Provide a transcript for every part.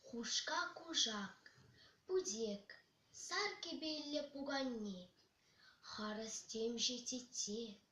Хушка-кушак, путек, сар кӗпеллӗ пуканне, харӑс темшӗ тетте.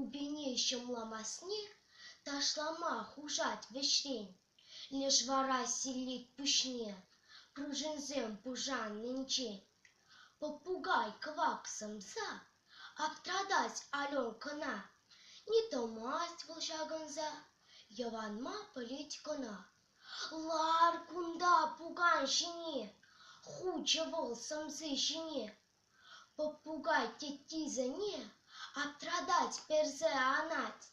Упине ҫӑмламасне ташлама хушать вӗҫрен, леш вара силлет пуҫне пружинсем пушаннинчен. Попугай кӑвак сӑмса аптратать Аленкӑна, не тӑмасть вӑл ҫакӑнса, йӑванма пӗлет кӑна. Лар кунта пукан ҫине, хучӗ вӑл сӑмси ҫине. Попугай теттисене аптратать, персе анать.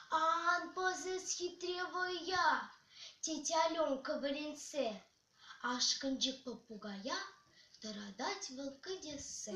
«Ан пӑсес, хитре вӑя!» тет Аленка вӗрентсе. Ашкӑнчӑк попугая тӑратать вӑл кӗтессе.